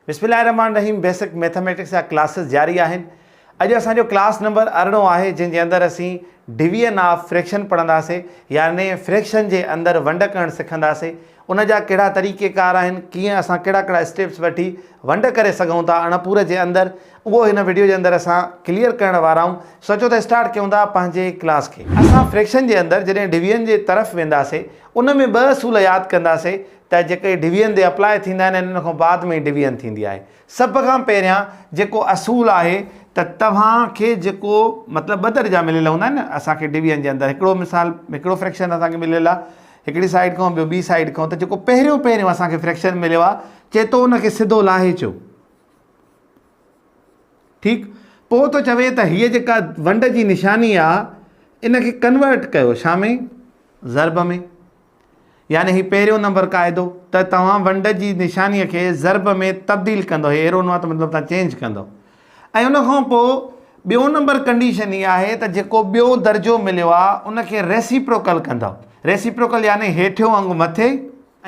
بسم الله الرحمٰن الرحيم بيسڪ ميٿاميٽڪس جا ڪلاسز جاري آهن اڄ اسان جو ڪلاس نمبر ارڙهن آهي جنهن جي اندر اسين ڊويزن آف فريڪشن پڙهنداسين يعني فريڪشن جي اندر ونڊ ڪرڻ سکنداسين ان جا ڪهڙا طريقي ڪار آهن ڪيئن اسان ڪهڙا ڪهڙا اسٽيپس وٺي ونڊ ڪري سگهون ٿا اڻپور جي اندر اهو هن وڊيو جي اندر اسان ڪليئر ڪرڻ وارا آهيون سو اچو ته اسٽارٽ ڪيون ٿا پنهنجي ڪلاس کي اسان فريڪشن جي اندر جڏهن ڊويزن جي طرف وينداسين ان ۾ ٻه اصول ياد ڪنداسين ته جيڪي ڊويزن تي اپلاء ٿيندا آهن ۽ ان کان بعد ۾ ڊويزن ٿيندي آهي. سڀ کان پهريان جيڪو اصول آهي ته توهان کي جيڪو مطلب ٻه درجا مليل هوندا آهن نه اسان کي ڊويزن جي اندر هڪڙو مثال هڪڙو فريڪشن اسان کي مليل آهي هڪڙي سائيڊ کان ٻيو ٻي سائيڊ کان ته جيڪو پهريون پهريون اسان کي فريڪشن مليو آهي چئي ٿو ان کي سڌو لاهي اچو ٺيڪ پوء ٿو چوي ته هيء جيڪا ونڊ جي نشاني آهي ان کي ڪنورٽ ڪيو ڇا ۾ ضرب ۾ يعني هي پهريون نمبر قاعدو ته توهان ونڊ جي نشانيء کي ضرب ۾ تبديل ڪندو هي ايرو نوات مطلب توهان چينج ڪندو ۽ ان کان پوء ٻيون نمبر ڪنڊيشن هي آهي ته جيڪو ٻيو درجو مليو آهي ان کي ريسيپروڪل ڪندو ريسيپروڪل يعني هيٺيون انگ مٿي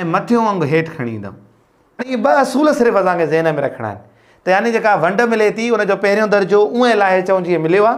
۽ مٿيون انگ هيٺ کڻي ايندو اهي ٻه اصول صرف اسان کي ذهن ۾ رکڻا آهن ته يعني جيڪا ونڊ ملي ٿي ان جو پهريون درجو اونهي لاهي چون جيئن مليو آهي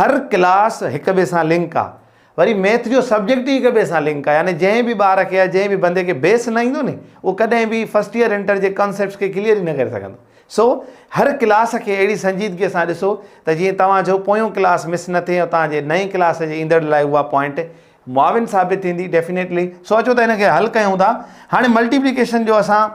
هر ڪلاس هڪ ٻئي سان لنڪ آ وري ميٿ جو سبجيڪٽ ئي هڪ ٻئي سان لنڪ آ يعني جنهن به ٻار کي يا جنهن به بندي کي بيس نه ايندو ني اهو ڪڏهن به فرسٽ ييئر انٽر جي ڪانسيپٽس کي ڪليئر ئي نه ڪري سگهندو سو هر ڪلاس کي اهڙي سنجيدگي سان ڏسو ته جيئن توهان جو پويون ڪلاس مس نه ٿئي ۽ توهان جي نئين ڪلاس جي ايندڙ لاء اها پوائنٽ معاون ثابت ٿيندي ڊيفينيٽلي سو اچو ته هن کي حل ڪيون ٿا هاڻي ملٽيپليڪيشن جو اسان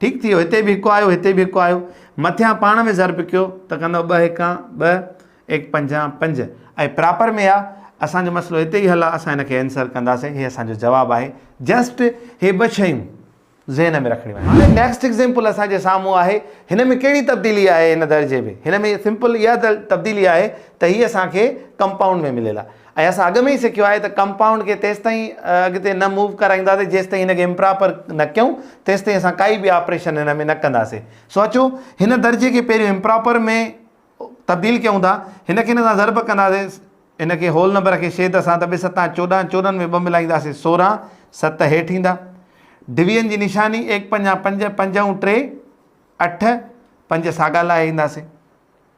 ٺيڪ ٿي ويو هتي به هڪ آيو هتي به هڪ آيو مٿيان پاڻ ۾ ضرب ڪيو ته ڪندو ٻه هڪان ٻه ايڪ پنجان پنج ۽ پراپر ۾ آهي اسانجو مسئلو هتي ئي حل آهي اسان هن کي آنسر ڪنداسين هي اسانجو جواب آهي جسٽ هي ٻه شيون ذهن ۾ رکڻيون آهن هاڻي نيڪسٽ ايگزيمپل اسانجي سامهون آهي هن ۾ ڪهڙي تبديلي آهي هن درجي ۾ هن ۾ سمپل اها تبديلي آهي ته هي اسانکي ڪمپائونڊ ۾ مليل آهي ۽ اسان اڳ ۾ ئي سکيو آهي ته ڪمپائونڊ کي تيستائين اڳتي نه موو ڪرائينداسين جيستائين هن کي امپراپر نه ڪيون تيستائين اسان ڪائي به آپريشن هن ۾ نه ڪنداسين سو اچو هن درجي کي پهريون امپراپر ۾ تبديل ڪيون ٿا هن کي هن سان ضرب ڪنداسين هن کي هول نمبر کي شيد سان ته ٻه ستان چوڏهن چوڏهن ۾ ٻه ملائينداسين سورهن ست هيٺ ايندا ڊويزن جي نشاني ايڪ پنجان پنج پنج ۽ ٽي اٺ پنج ساڳا لائي اينداسين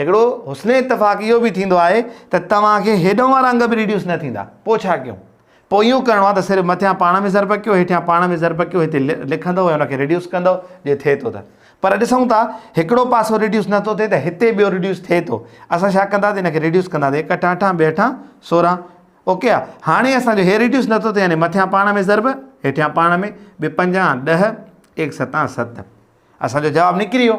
هڪڙو حسن اتفاق اهو به ٿيندو آهي ته توهان کي هيڏانهن وارا انگ به ريڊيوس نه ٿيندا. پوء ڇا ڪيون؟ پوء اهو ڪرڻو آهي ته صرف مٿيان پاڻ ۾ ضرب ڪيو، هيٺيان پاڻ ۾ ضرب ڪيو، هتي لکندؤ ۽ ان کي ريڊيوس ڪندؤ جي ٿئي ٿو ته. پر ڏسون ٿا هڪڙو پاسو ريڊيوس نه ٿو ٿئي ته هتي ٻيو ريڊيوس ٿئي ٿو. اسان ڇا ڪنداسين ان کي ريڊيوس ڪنداسين هڪ هٺان اٺان ٻئي هٺان سورهن. اوڪي آ. هاڻي اسان جو هي ريڊيوس نه ٿو ٿئي يعني مٿيان پاڻ ۾ ضرب هيٺيان پاڻ ۾ ٻي پنجان ڏهه ايڪ ستان ست. اسان جو جواب نڪري ويو.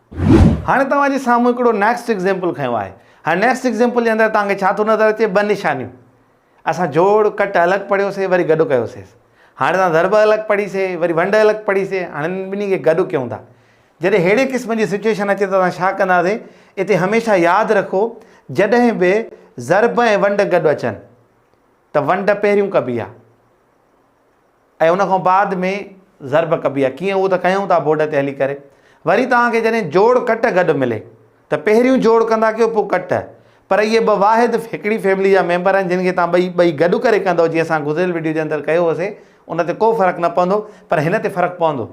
هاڻي توهان جي سامهون هڪڙو نيڪسٽ ايگزيمپل کنيو آهي. هاڻي نيڪسٽ ايگزيمپل جي اندر توهان کي ڇا ٿو نظر اچي؟ ٻه نشانيون. اسان جوڙ، ڪٽ الڳ پڙهيو سي وري گڏ ڪيو سيس. هاڻي توهان ضرب الڳ پڙهي سي وري ونڊ الڳ پڙهي سي هاڻي انهن ٻنهي کي گڏ ڪيون ٿا. جڏهن ههڙي قسم جي سچويشن اچي ته اسان ڇا ڪندا سي؟ اتي هميشه ياد رکو جڏهن به ضرب ۽ ونڊ گڏ اچن ته ونڊ پهريون ڪبي آهي. ۽ ان کان بعد ۾ ضرب ڪبي آهي ڪيئن اهو ته ڪيون ٿا بورڊ تي هلي ڪري وري توهان کي جڏهن جوڙ ڪٽ گڏ ملي ته پهريون جوڙ ڪندا ڪيو پوء ڪٽ پر اهي ٻه واحد هڪڙي فيملي جا ميمبر آهن جن کي توهان ٻئي ٻئي گڏ ڪري ڪندو جيئن اسان گذريل وڊيو جي اندر ڪيو هوسي ان تي ڪو فرق نه پوندو پر هن تي فرق پوندو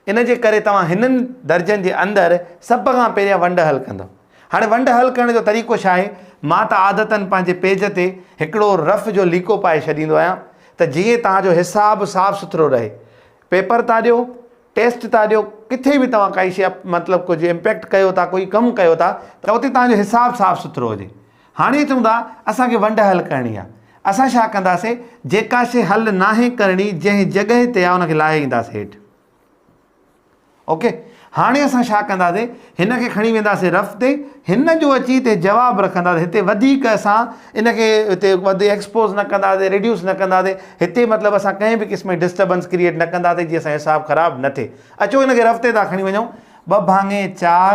ان جي ڪري توهان هنن درجن جي اندر سڀ کان پهريان ونڊ حل ڪندؤ. هاڻي ونڊ حل ڪرڻ جو طريقو ڇا آهي؟ مان ته عادتن پنهنجي پيج تي هڪڙو رف جو ليڪو پائي ڇڏيندو آهيان ته جيئن توهان جو حساب صاف سٿرو رهي. پيپر ٿا ڏيو، ٽيسٽ ٿا ڏيو، ڪٿي به توهان ڪائي شيء مطلب ڪجهه امپيڪٽ ڪيو ٿا، ڪوئي ڪم ڪيو ٿا ته اتي توهان جو حساب صاف سٿرو هجي. هاڻي چون ٿا اسان کي ونڊ حل ڪرڻي آ اسان ڇا ڪنداسي جيڪا شي حل ناهي ڪرڻي جنهن جڳهي تي آ ان کي لاهي اينداسي هيٺ اوڪي هاڻي اسان ڇا ڪنداسي هن کي کڻي وينداسي رف تي هن جو اچي تي جواب رکنداسي هتي وڌيڪ اسان ان کي هتي وڌي ايڪسپوز نه ڪنداسي ريڊيوس نه ڪنداسي هتي مطلب اسان ڪنهن به قسم جي ڊسٽربنس ڪرييٽ نه ڪنداسي جي اسان حساب خراب نه ٿئي اچو هن کي رف تي ٿا کڻي وڃون ٻه ڀاڱي چار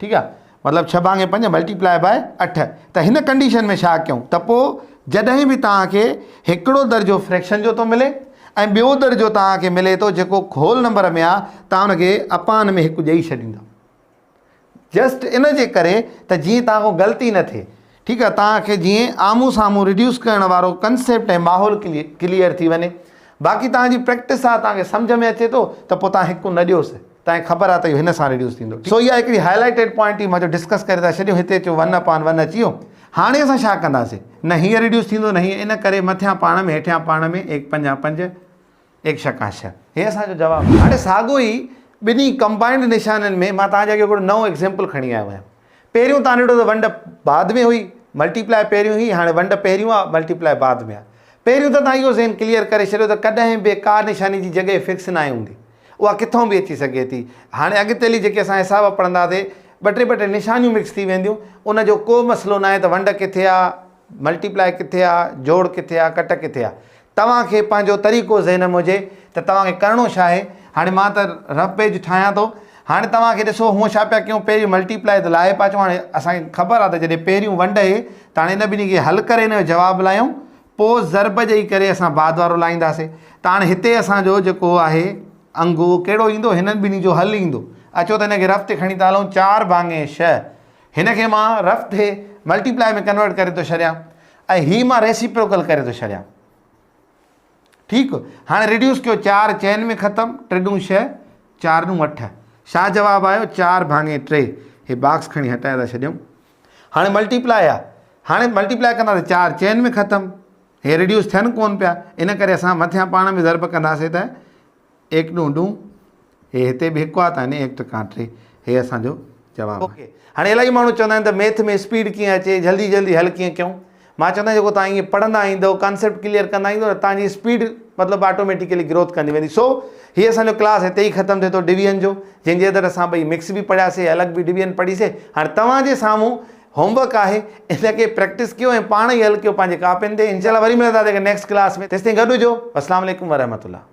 ٺيڪ آ مطلب ڇهه ڀاڱي پنج ملٽيپلائي بائي اٺ ته هن ڪنڊيشن ۾ ڇا ڪيون ته پوء جڏهن به توهان کي هڪڙو درجو فريڪشن جو ٿو ملي ۽ ٻيو درجو توهان کي ملي ٿو جيڪو هول نمبر ۾ آ توهان ان کي اپان ۾ هڪ ڏيئي ڇڏيندا جسٽ ان جي ڪري ته جيئن توهان کان غلطي نه ٿئي ٺيڪ آهي توهان کي جيئن آمهون سامهون ريڊيوس ڪرڻ وارو ڪنسيپٽ ۽ ماحول ڪليئر ٿي وڃي باقي توهان جي پريڪٽس آهي توهان کي سمجهه ۾ اچي ٿو ته پوء توهان هڪ نه ڏيوس توهان کي خبر آهي ته اهو هن سان ريڊيوس ٿيندو سو اها هڪڙي هاء لائيٽيڊ پوائنٽ هئي مان چيو ڊسڪس ڪري ٿا ڇڏيون هتي اچو ون اپان ون اچي ويو هاڻي اسان ڇا ڪنداسين نه هيئن ريڊيوس ٿيندو نه هيئن ان ڪري مٿيان پاڻ ۾ هيٺيان پاڻ ۾ ايڪ پنجان پنج ايڪشه ڪاشه هي اسان جو جواب آهي. هاڻي ساڳيو ئي ٻنهي ڪمبائنڊ نشانين ۾ مان توهان جي اڳيان هڪڙو نئون ايگزيمپل کڻي آيو آهيان. پهريون توهان ڏٺو ته ونڊ بعد ۾ هئي، ملٽي پلائي پهريون هئي، هاڻي ونڊ پهريون آهي، ملٽي پلائي بعد ۾ آهي. پهريون ته توهان اهو ذهن ڪليئر ڪري ڇڏيو ته ڪڏهن به ڪا نشاني جي جڳهه فڪس ناهي هوندي. اها ڪٿون به اچي سگهي ٿي. هاڻي اڳتي هلي جيڪي اسان حساب پڙهنداسي، ٻه ٽي ٻه ٽي نشانيون مڪس ٿي وينديون، ان جو ڪو مسئلو ناهي ته ونڊ ڪٿي آهي، ملٽي پلائي ڪٿي آهي، جوڙ ڪٿي آهي، ڪٽ ڪٿي آهي. توهان کي پنهنجو طريقو ذهن ۾ هجي ته توهان کي ڪرڻو ڇا آهي. هاڻي مان ته رف پيج ٺاهيان ٿو. هاڻي توهان کي ڏسو هونء ڇا پيا ڪيون پهرين ملٽي پلائي تي لاهي پيا اچون هاڻي اسان کي خبر آهي ته جڏهن پهريون ونڊ هي ته هاڻي ان ٻنهي کي حل ڪري ان جو جواب لاهيون پوء ضرب ڏئي ڪري اسان بعد وارو لاهينداسي ته هاڻي هتي اسان جو جيڪو آهي انگ اهو ڪهڙو ايندو هنن ٻنهي جو حل ايندو اچو ته ان کي رف تي کڻي ٿا هلون چار ڀاڱي شهه هن کي مان رف ٿي ملٽي پلائي ۾ ڪنورٽ ڪري ٿو ڇڏيان ۽ هي مان ريسيپروڪل ڪري ٿو ڇڏيان ٺيڪ هاڻي ريڊيوس ڪيو چار چئن ۾ ختم ٽي ڏون شهه چار ڏون اٺ شاهه جواب آيو چار ڀاڱي ٽي هي باڪس کڻي هٽائي ٿا ڇڏيون هاڻي ملٽي پلائي آ هاڻي ملٽي پلائي ڪنداسي چار چئن ۾ ختم هي ريڊيوس ٿين ڪون پيا ان ڪري اسان مٿيان پاڻ ۾ ضرب ڪنداسي ته ايڪ ڏون ڏون هي هتي به هڪ وات آهن ايڪ ٽڪان ٽي هي اسان جو جواب آهي. اوڪي هاڻي الاهي ماڻهو چوندا آهن ته ميٿ ۾ اسپيڊ ڪيئن اچي جلدي جلدي حل ڪيئن ڪيون مان چوندا آهن جيڪو توهان ائين پڙهندا ايندو ڪانسيپٽ ڪليئر ڪندا ايندو نه توهان جي اسپيڊ مطلب آٽوميٽيڪلي گروٿ ڪندي ويندي سو هي اسان جو ڪلاس هتي ئي ختم ٿئي ٿو ڊويزن جو جنهن جي اندر اسان ٻئي مڪس به پڙهياسي الڳ به ڊويزن پڙهي سي هاڻي توهان جي سامهون هوم ورڪ آهي ان کي پريڪٽس ڪيو ۽ پاڻ ئي حل ڪيو پنهنجي ڪاپين تي انشاء الله وري ملنداسي نيڪسٽ ڪلاس ۾ تيستائين گڏ هجو اسلام عليڪم ورحمة الله